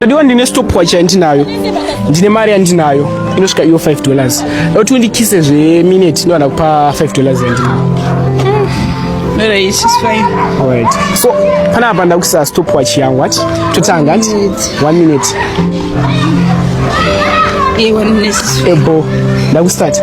Ndiwa ndine stopwatch yandinayo ndine mari yandinayo inosvika iyo 5 dollars kuti undikise zveminute ndovana kupa 5 dollars yandinayo so panapa ndakuisa stopwatch yangu ati totanga ati one minute ebo ndakustarta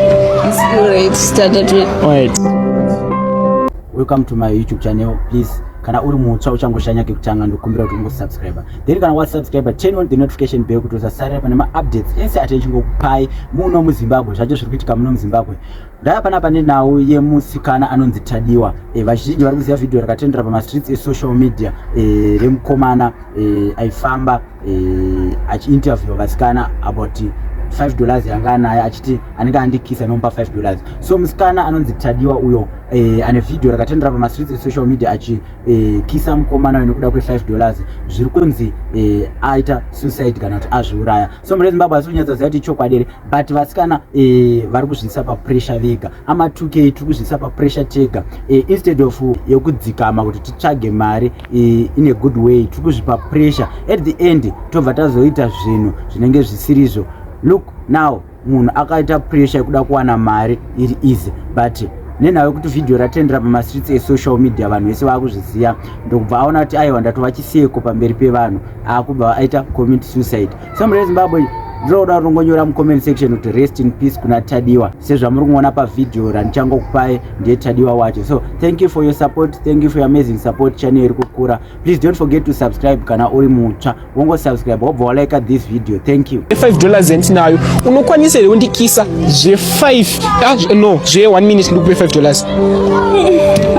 welcome to my youtube channel please kana uri mutsva uchangoshanya kekutanga ndokumbira kuti ungosubscribe then kana wasubscribe turn on the notification bell kuti usasarira pane maupdates ese ati echingokupai muno muzimbabwe zvacho zviri kuitika muno muzimbabwe ndava pana pane nhau yemusikana anonzi tadiwa e, vazhinji vari kuziva vhidhiyo rakatendera pamastreets esocial media e, remukomana e, aifamba e, achiinterview vasikana about 5 dollars yanga anayo achiti anenge andikisa anomupa 5 dollars so musikana anonzi tadiwa uyo e, ane vhidhiyo rakatendera pamastreets esocial media achi eh, kisa mukomana uyu nekuda kwe5 dollars zviri kunzi eh, aita suicide kana kuti azviuraya so mune zimbabwe asi kunyatsa ziyati chokwadi here but vasikana eh, vari kuzviisa papressure vega amatukei tiri kuzviisa papressure tega eh, instead of yekudzikama kuti titsvage mari eh, in a good way tiri kuzvipa pressure at the end tobva tazoita zvinhu zvinenge zvisirizvo look now munhu akaita pressure yekuda kuwana mari iri easy but nenhau yekuti vhidhiyo ratendera pamastreets esocial media vanhu vese vaakuzviziva ndokubva aona kuti aiwa ndatova chiseko pamberi pevanhu aakubva aita comment suicide somebody wezimbabwe ndinoda kutongonyora mucomment section kuti rest in peace kuna tadiwa sezvamuri kuona pavhidhiyo randichangokupai ndiye tadiwa wacho so thank you for your support thank you for your amazing support channel iri kukura please don't forget to subscribe kana uri mutsva wongo subscribe wobva walike this video thank you 5 dollars yandinayo unokwanisa here undikisa zve 5 ah, no zve 1 minute ndikupe 5 dollars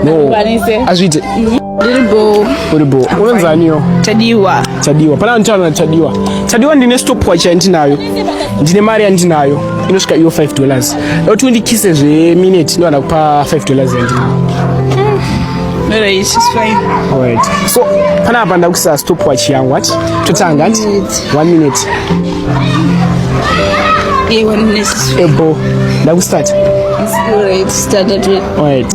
no azviite ndiribo uribo unonzaniyo tadiwa tadiwa pana nditaura natadiwa tadiwa ndine stopwatch yandinayo ndine mari yandinayo inosvika iyo 5 dollars kuti undikise zve minute ndovana kupa 5 dollars yandinayo Alright, she's fine. Alright. So, kana hapa ndakuisa stopwatch yangu ati totanga ati 1 minute. Yeah, 1 minute. Ebo, ndakustart. Alright, start at Alright.